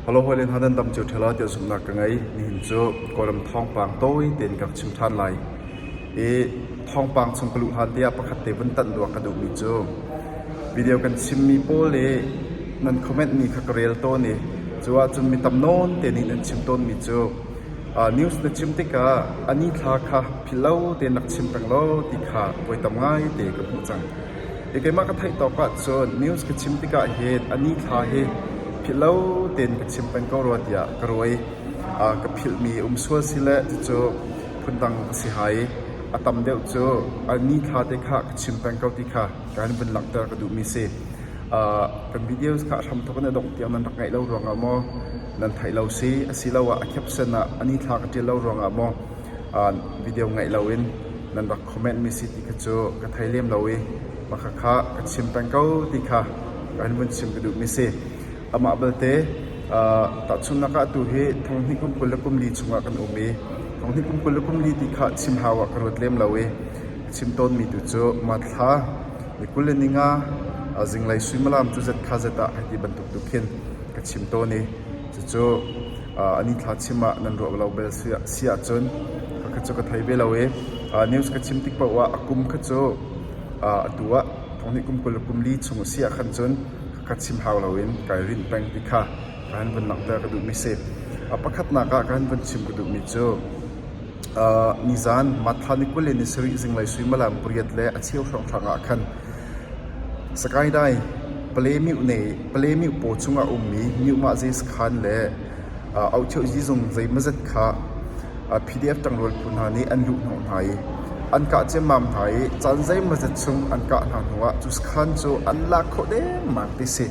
Hawile hna nan dam cio ṭhelo tiah zumhnak ka ngei. Nihin cu Kawlram thawngpang tawi tein ka chim ṭhan lai. I thawngpang chung ka luh hlan tiah pakhat te vun tanh dua ka duhmi cu video kan chimmi pawl i nan commentmi kha ka rel tawn i cu ahcun mi tam nawn tein nih nan chim tawnmi cu news na chim tikah a ni thla kha philhlo tein rak chim peng law ti kha voi tam ngai te ka hmuh cang. Keimah ka theih tawk ahcun news ka chim tikah hin a ni thla hi philhlo tein ka chim peng ko rua tiah ka ruai. ka philhmi um sual si le cucu phundang a si hai. A tam deuh cu a ni thla te kha ka chim peng ko ti kha ka in vun langhter ka duhmi si. kan videos kha hramthawk in a dongh tiang nan rak ngaih lo ruangah maw nan theih lo si asiloah a kepsen ah a ni thla ka ṭial lo ruangah maw video ngaih loin nan rak Comment mi si ti kha cu ka thei lem lo i pakha kha ka chim peng ko ti kha ka an vun chim ka duhmi si. Amah belte tahchunhnak ah tu hi thong hnih kum kul le kum li chungah kan um i thong hnih kum kul le kum li ti kha chim hau ah ka ruat lem lo i ka chim tawnmi tu cu Matthla ni kul le ni nga zinglei suimilam cu zet kha zet ah hei ti bantuk tu khin ka chim tawn i Cucu an inn thlahchim ah nan ruah lo bel si ahcun khakha cu ka thei ve lo i news ka chim tik paoh ah a kum kha cu atu ah thonghnih kum kul le kum li chung a si ahkhan cun khakha chim hau loin kai rinh peng ti kha ka han vun langhter ka duhmi si. Pakhatnak ah ka han vun chim ka duhmi cu nizan Matthla ni kul in ni sarih zinglei suimilam pariat le a cheu hrawnghrang ah khan Sakaidai pale meuh paw chung ah a ummi meuhmah zeisakhan le auhcheuhzi zung zeimawzet kha PDF ṭangrual phu hna nih an luhhnawh hna i an kah ciammam hna i caan zeimawzet chung an kah hna hnuah cu sakhan cu an lak khawh dengmang ti a si.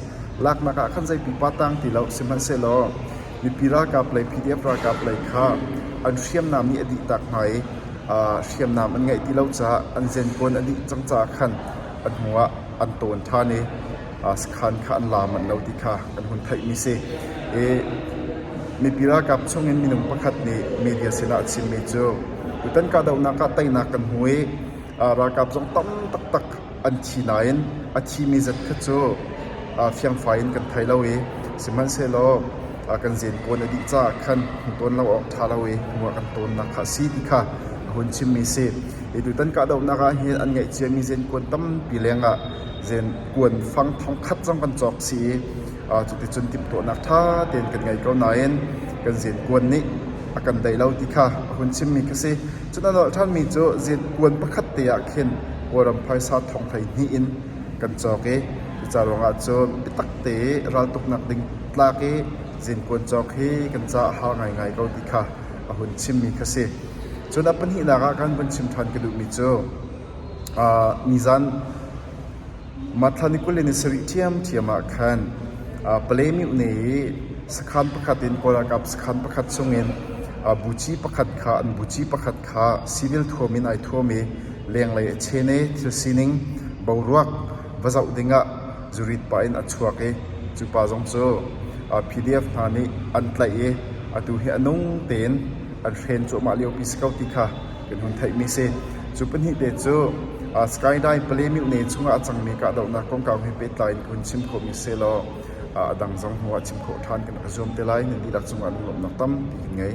Laknak ah khan zei pipa tang ti lo, sihmanhsehlaw Mipi ralkap lei PDF ralkap lei kha an hriamnam nih a dih tak hnga i hriamnam an ngeih ti lo caah an zenkawn a dih cang caah khan a hnu ah an tawn ṭhan i sakhan kha an la manh lo ti kha kan hun theihmi si. Mipi ralkap chungin minung pakhat nih media sinah a chimmi cu tutan kahdohnak ah teinak kan hmu i ralkap zong tam taktak an thi nain a thimi zat kha cu fiangfai in kan thei lo i sihmanhsehlaw kan zenpuan a dih caah khan tawn lo awk ṭha lo i hnuah kan tawnnak kha a si ti kha a hun chimmi a si. Hi tutan kahdohnak ah hin an ngeih ciami zenpuan tampi lengah zenpuan fang thongkhat zong kan cawk si i cuticun timhtuahnak ṭha tein kan ngei ko nain kan zenpuan nih a kan daih lo ti kha a hun chimmi ka si. Cun a nolh ṭhanmi cu zit puan pakhat te ah khin Kawlram phaisa thong hleihnih in kan cawk i cuca ruangah cun biatak te i raltuknak ding tlak i zinpuan cawk hi kan caah har ngaingai ko ti kha a hun chimmi kha si. Cun a pahnihnak ah kan vun chim ṭhan ka duhmi cu, mi zan Mathlan i kul in a sarih ṭhiamṭhiam ah khan palei mihne i sakhan pakhat in kawlralkap sakhan pakhat chungin buci pakhat kha an buci pakhat kha civil thuam in ai thuam i lenglei a chen i thil sining boruak va zoh dingah zurit pa in a chuak i cu pa zong cu PDF hna nih an tlaih i atu hi a nung tein an hren cuahmah liopi si ko ti kha kan hun theihmi si. Cu pahnih te cu uh, Skydi Palemut ne chungah a cangmi kahdohnak kongkau he pehtlai in hun chim khawhmi selaw uh, a dang zong hnuah chim khawh ṭhan kan rak zuam te lai. Nan dihlak cungah lunglawmhnak tampi kan ngei.